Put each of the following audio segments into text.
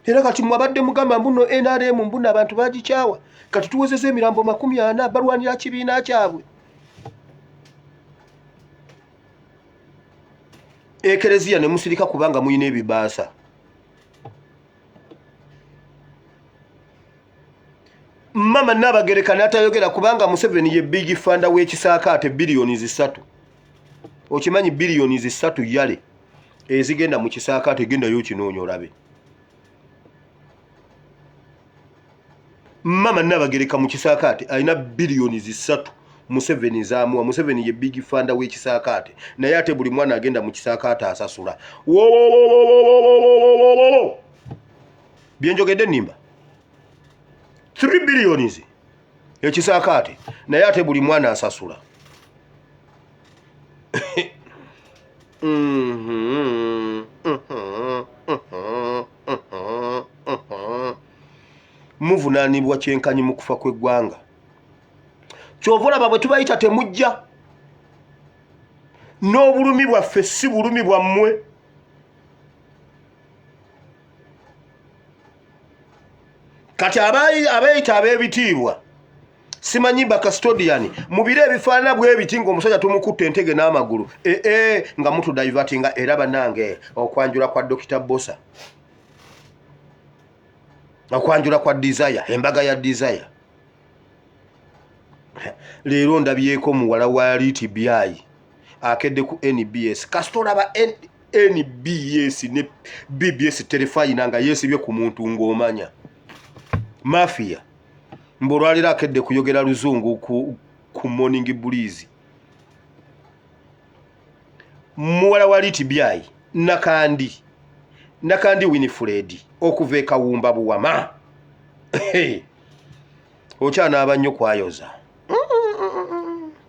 era kati mwabadde mugamba mbuno nrm mbuno abantu bagikyawa kati tuwezeza emirambo makumi ana balwanira kibiina kyabwe ekereziya ne musirika kubanga mulina ebibaasa mama nabagereka natayogera kubanga museveni ye big fanda wekisaakaate biliyoni zisatu okimanyi biliyoni zisatu yale ezigenda mu kisaakaate gendayo kinoonya olabe mama nabagereka mu kisaakaate alina biliyoni zisatu museveni zamuwa museveni ye big fanda wekisaakaate naye ate buli mwana agenda mu kisaakaate asasula wowowowowowowowowowowo byenjogedde nimba 3 billions ekisakaate naye ate buli mwana asasula muvunanibwa kyenkanyi mu kufa kw'eggwanga kyova olaba bwe tubayita temujja n'obulumi bwaffe si bulumi bwammwe kati abeeyita ab'ebitiibwa simanyi bakastodian mu biro ebifaanana bwebiti ngaomusajja tumukutte entege n'amagulu ee eh, eh, nga mutudivati nga era banange okwanjula kwa dokita bosa okwanjula kwa desire embaga ya desire leero ndabyeko muwala wa liti byayi akedde ku nbs kasita olaba nbs ne bbs terefayina nga yeesibye ku muntu ng'omanya mafiya mbu olwaliro akedde kuyogera luzungu ku, ku morning bulizi muwala wa litibyayi nakandi nakandi winifred okuva ekawumba buwama okyanaaba nnyo kwayoza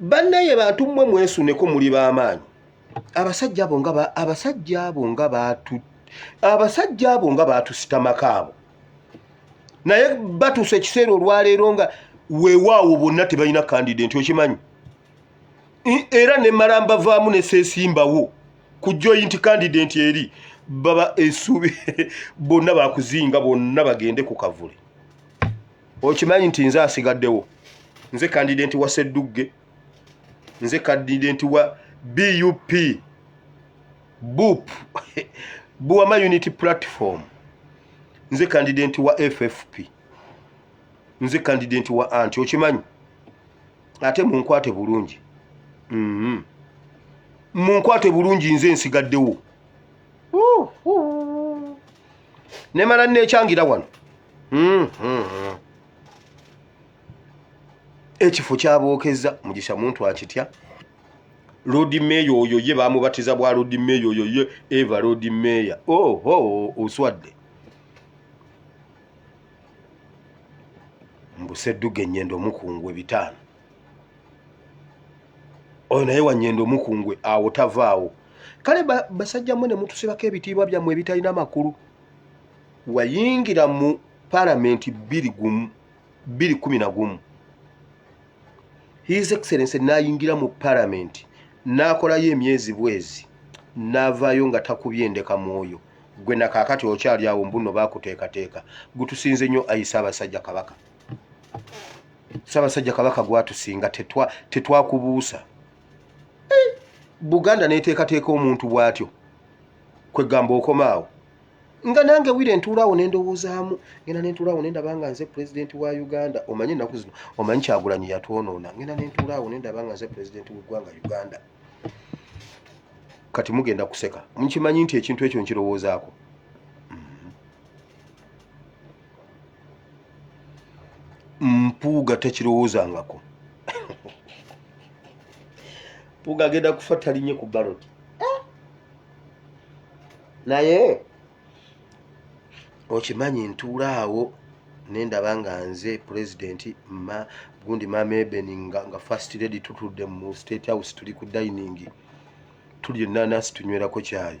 bannaye bantu mmwe mwesuneko muli b'amaanyi abasajja abo nga abasajja abo nga baatu abasajja abo nga baatusitamako abo naye batuuse ekiseera olwaleero nga weewaawo bonna tebalina kandide nti okimanyi era ne malamba vaamu ne seesimbawo ku joyinti kandide nti eri baba esuubi bonna bakuzinga bonna bagende ku kavule okimanyi nti nze asigaddewo nze kandidenti wa seddugge nze kandidenti wa bup bup buwama unity platform nze kandidenti wa ffp nze kandidenti wa anti okimanyi ate munkwate bulungi mhm. munkwate bulungi nze nsigaddewo nemala nekyangira wano hmm, hmm, hmm. ekifo kyabokeza mugisha muntu akitya lodi meya oyo ye bamubatiza bwa lodi meya oyo ye eva lodi meya oh, oh, oswadde mbusedduga enyendo omukungwe bitaano oyo naye wanyendo omukungwe awo tavaawo kale basajja mwe ne mutusibako ebitiibwa byammwe ebitalina makulu wayingira mu palamenti bbiri gumu bbiri kumi na gumu his excellence n'ayingira mu palamenti n'akolayo emyezi bwezi n'avaayo nga takubye endeka mwoyo gwe na kaakati okyali awo mbuno baakuteekateeka gutusinze nnyo ayi ssaabasajja kabaka ssaabasajja kabaka gwatusinga tetwakubuusa tetwa buganda neteekateeka omuntu bwatyo kwegamba okomaawo nga nange wire ntuulaawo nendowoozaamu ngenda nentuulaawo nendaba nga nze pulezidenti wa uganda omanye ennaku zino omanyi kyagulanyi yatwonoona ngenda nentuulaawo nendaba nga nze pulezidenti weggwanga uganda kati mugenda kuseka mukimanyi nti ekintu ekyo nkirowoozaako mpuuga tekirowoozangako mpuuga agenda kufa talinye ku balot eh? naye okimanyi ntuula awo nendaba nga nze pulezidenti ma gundi maama ebeni nga, nga first lady tutudde mu state house tuli ku dining tuli enanasi tunywerako kyayi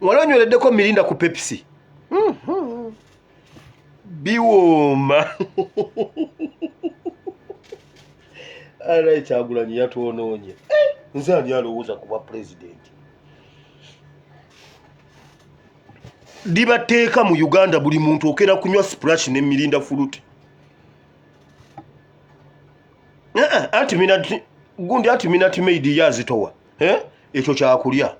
wali onywereddeko mirinda ku pepsi mm-hmm. biwooma ara ekyagulanyi yatwonoonye eh, nze ani alowooza kuba pulezidenti libateeka mu uganda buli muntu okera kunywa splash ne mirinda fuluti Naa, anti minati gundi anti minati made yazitowa eh ekyo kyakulya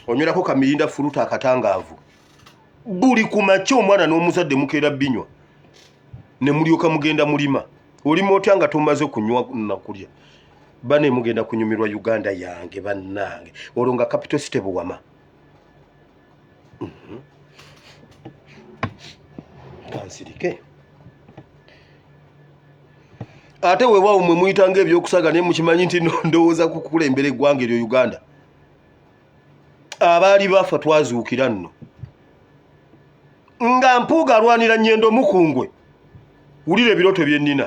onywerako kamirinda fuluta akatangaavu buli ku makya omwana n'omuzadde mukeera binywa ne mulyoka mugenda mulima olima otya nga tomaze kunywa nakulya bane mugenda kunyumirwa uganda yange bannange olwo nga capital city buwama kansirike mm -hmm. ate wewawo mwe muyita nga ebyokusaga naye mukimanyi nti ndowooza kukulembera eggwanga eryo uganda abaali bafa twazuukira nno nga mpuuga alwanira nyendo mukungwe wulira ebiroto byennina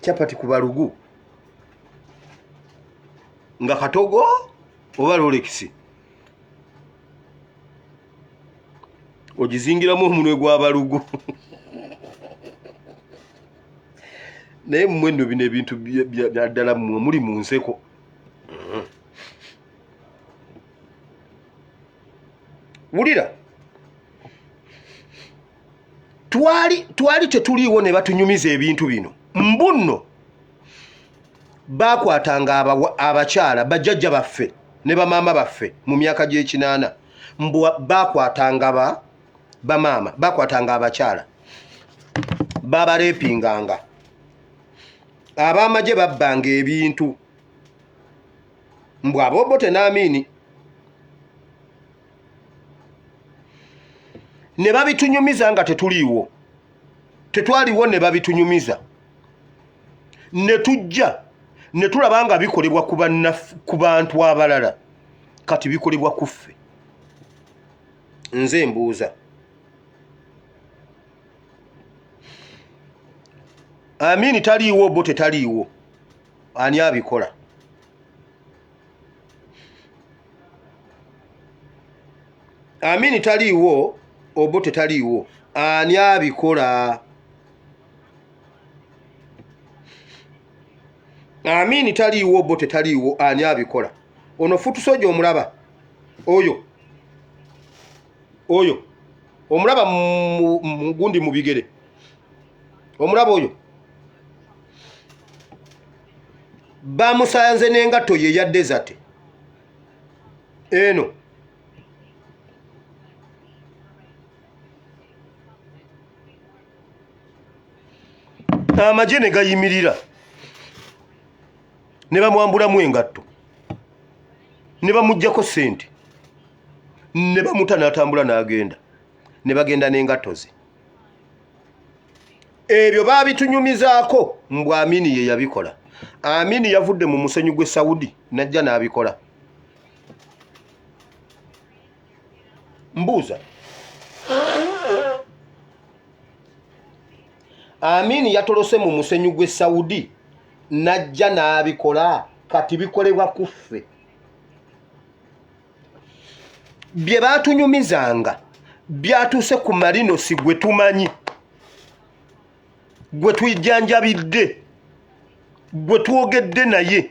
chapati ku balugu nga katogo oba lolekisi ogizingiramu omunwe gwa balugu naye mmwe nno bino ebintu byaddala mmwe muli mu nseko wulira twali twali tetuliiwo ne batunyumiza ebintu bino mbunno baakwatanga abakyala bajjajja baffe ne bamaama baffe mu myaka gy'ekinaana mbu baakwatanga ba bamaama baakwatanga abakyala babareepinganga ab'amagye babbanga ebintu mbu abobote n'amiini ne babitunyumiza nga tetuliiwo tetwaliwo ne babitunyumiza ne tujja ne tulaba nga bikolebwa ku bantu abalala kati bikolebwa ku ffe nze mbuuza amini taliiwo bo tetaliiwo ani abikola amini taliiwo obo tetaliiwo ani abikola amini taliiwo obo tetaliiwo ani abikola ono futusoja omulaba oyo oyo omulaba gundi mu bigere omulaba oyo bamusanze n'engatto ye ya desate eno amagye ne gayimirira ne bamwambulamu engatto ne bamuggyako ssente ne bamuta n'atambula n'agenda ne bagenda n'engatto ze ebyo baabitunyumizaako mbu amini ye yabikola amini yavudde mu musenyu gw'e saudi n'ajja n'abikola mbuuza amini yatolose mu musenyu gw'e saudi n'ajja n'abikola kati bikolebwa kuffe bye baatunyumizanga byatuuse ku marinosi gwe tumanyi gwe tujjanjabidde gwe twogedde naye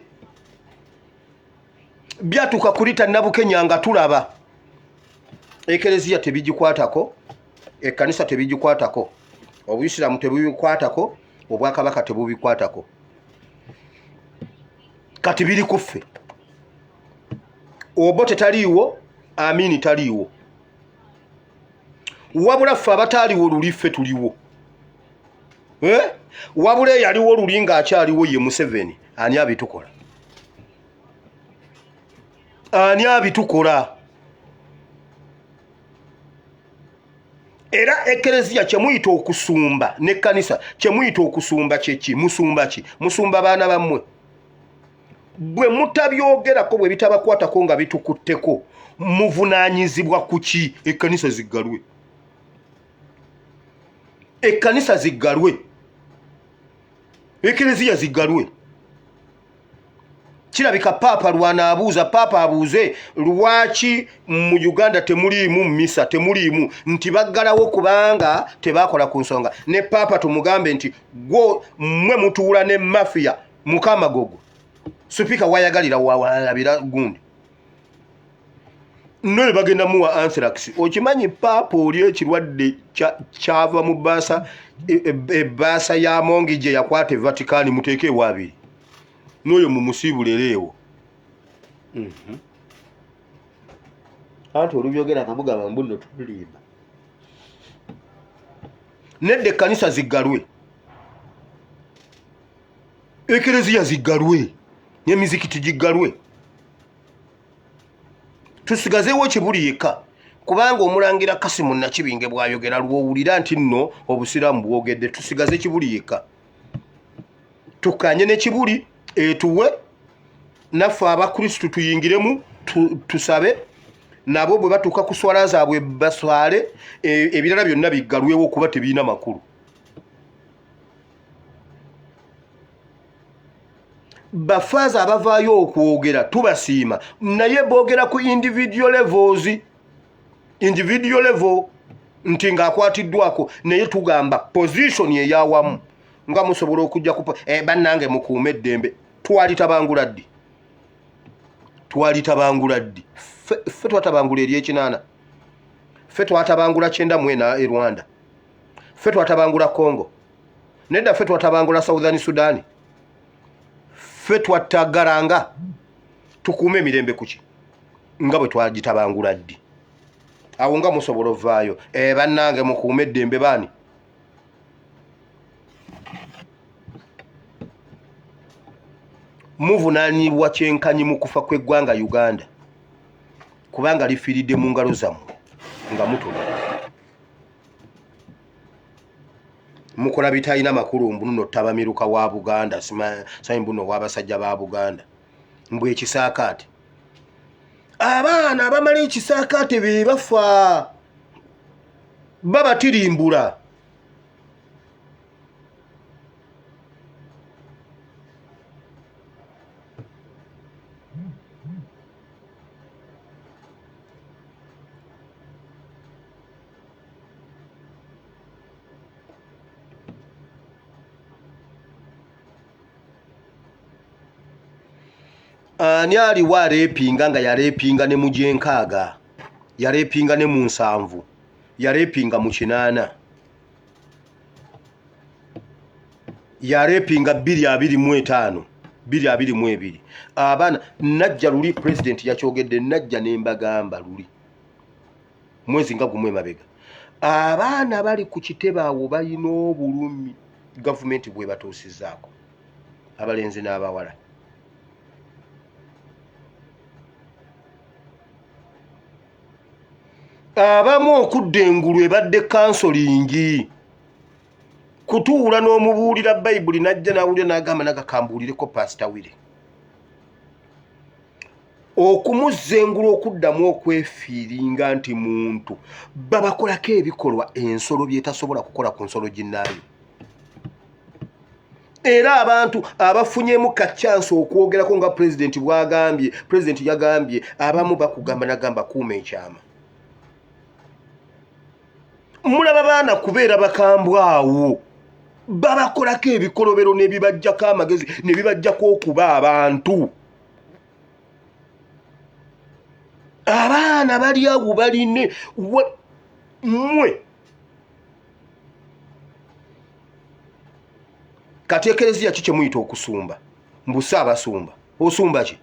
byatuuka kulita nabukenya nga tulaba ekereziya tebigikwatako ekkanisa tebigikwatako obuyisiraamu tebubikwatako obwakabaka tebubikwatako kati biri kuffe obote taliiwo amini taliiwo wabula ffe abataaliwo luli ffe tuliwo eh? wabula eyaliwo luli ng'akyaliwo ye museveni ani abitukola ani abitukola era ekereziya kyemuyita okusumba nekkanisa kyemuyita okusumba kyeki musumba ki musumba baana bammwe bwe mutabyogerako bwe bitabakwatako nga bitukutteko muvunaanyizibwa ku ki ekkanisa ziggalwe ekkanisa ziggalwe ekereziya ziggalwe kirabika paapa lwanaabuuza paapa abuuze lwaki mu uganda temuliimu mumisa temuliimu nti baggalawo kubanga tebaakola ku nsonga ne paapa tumugambe nti gwo mmwe mutuula ne mafiya mukama gogo supika wayagalira wawalabira gundi noyo bagenda muwa anthrax okimanyi paapa oli ekirwadde kyava mu baasa ebaasa e, e ya mongi gye yakwata e vaticani muteeke ewaabiri noyo mumusiibulera ewo mhm. anti olubyogera kamugamba mbuno tulimba nedda ekkanisa ziggalwe ekereziya ziggalwe nemizikiti giggalwe tusigazeewo kibuli yekka kubanga omulangira kasimu nakibinge bwayogera lwowulira nti nno obusiraamu bwogedde tusigaze kibuli yekka tukanye nekibuli etuwe naffe abakristu tuyingiremu tusabe nabo bwe batuuka ku swala zaabwe baswale e, ebirala byonna biggalwewo kuba tebirina makulu bafaaza abavaayo okwogera tubasiima naye boogera ku individual levels individual level nti ng'akwatiddwako naye tugamba position eyawamu nga musobola okujja ku eh, bannange mukuuma eddembe twalitabangula ddi twalitabangula ddi ffe twatabangula eryekinaana ffe twatabangula kyenda mwena e rwanda ffe twatabangula congo nedda ffe twatabangula southern sudan ffe twattagalanga tukuuma emirembe kuki nga bwe twagitabangula ddi awo nga musobola ovaayo eh, bannange mukuuma eddembe baani muvunanyibwa kyenkanyi mu kufa kw'eggwanga uganda kubanga lifiiridde mu ngalo zammwe nga mutula mukola bitalina makulu mbuno tabamiruka wa buganda simanyi mbuno owabasajja ba buganda mbu ekisaakaate abaana abamala ekisaakaate be bafa babatirimbula ani aliwo areepinga nga yareepinga ne mu gyenkaaga yareepinga ne mu nsanvu yareepinga mu kinaana yareepinga bbiri abiri mu etaano bbiri abiri mu ebiri abaana najja luli pulezidenti yakyogedde najja ne mbagamba luli mwezi nga gumu emabega abaana bali ku kitebe awo balina obulumi gavumenti bwebatuusizaako abalenzi n'abawala abamu okudda engulu ebadde kansolingi kutuula n'omubuulira bayibuli najja nawulira nagamba nagakambuulireko pasita wire okumuzza engulu okuddamu okwefiiringa nti muntu babakolako ebikolwa ensolo byetasobola kukola ku nsolo ginnaayo era abantu abafunyemu kacyansi okwogerako nga pulezidenti bwagambye pulezidenti yagambye abamu bakugamba nagamba kuuma ekyama mulaba baana kubeera bakambwa awo babakolako ebikolobero nebibajjako amagezi nebibajjako okuba abantu abaana bali awo baline mwe kati ekereziya ki kyemuyita okusumba mbu saabasumba osumba ki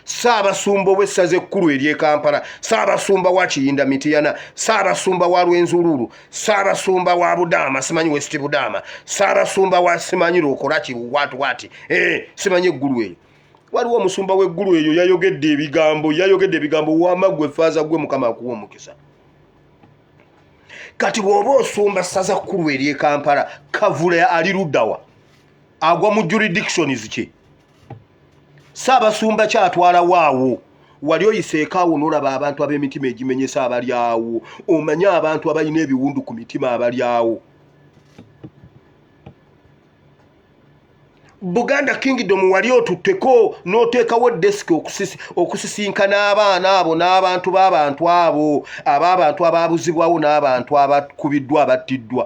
saabasumba owessaza ekkulu eryekampala saabasumba wa kiyinda mitiyana saabasumba wa lwenzuluulu saabasumba wa budaama simanyi west budaama saabasumba wa simanyi lwokolaki wati wati eh, simanyi eggulu eyo waliwo omusumba w'eggulu eyo yayogedde ebigambo yayogedde ebigambo wama gwe faaza gwe mukama akuwa omukisa kati bw'oba osumba ssaza kkulu ery'e kampala kavule ali luddawa agwa mu juridictions kye saabasumba kyatwala waawo wali oyiseekaawo nolaba abantu ab'emitima egimenyesa abali awo omanye abantu abalina ebiwundu ku mitima abali awo buganda kingdom wali otutteko n'oteekawo desiki okusisinkana abaana abo n'abantu b'abantu abo ab'abantu abaabuzibwawo n'abantu abakubiddwa abattiddwa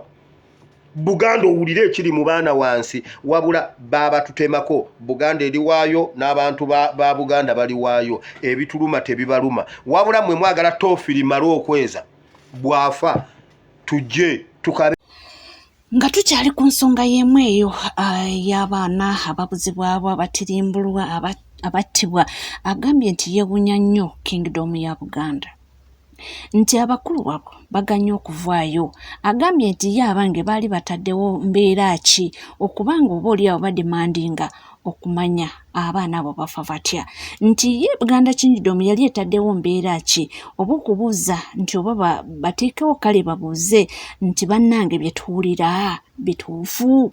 buganda owulire ekiri mu baana wansi wabula baabatutemako buganda eriwaayo n'abantu ba buganda baliwaayo ebituluma tebibaluma wabula mwe mwagala tofiri male okweza bwafa tujje tukabe nga tukyali ku nsonga y'emu eyo ah, y'abaana ababuzibwabo abatirimbulwa abattibwa agambye nti yeewunya nnyo kingdom ya buganda nti abakulu wabo baganye okuvaayo agambye nti ye abange baali bataddewo mbeera ki okuba nga oba oli awo bademandinga okumanya abaana abo bafa batya nti ye buganda kingidomu yali etaddewo mbeera ki oba okubuuza nti oba bateekewo kale babuuze nti bannange bye tuwulira bituufu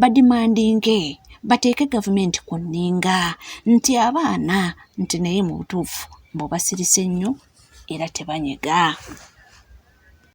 badimandinge bateeke gavumenti ku nninga nti abaana nti naye mu butuufu mbu basirise nnyo era tebanyega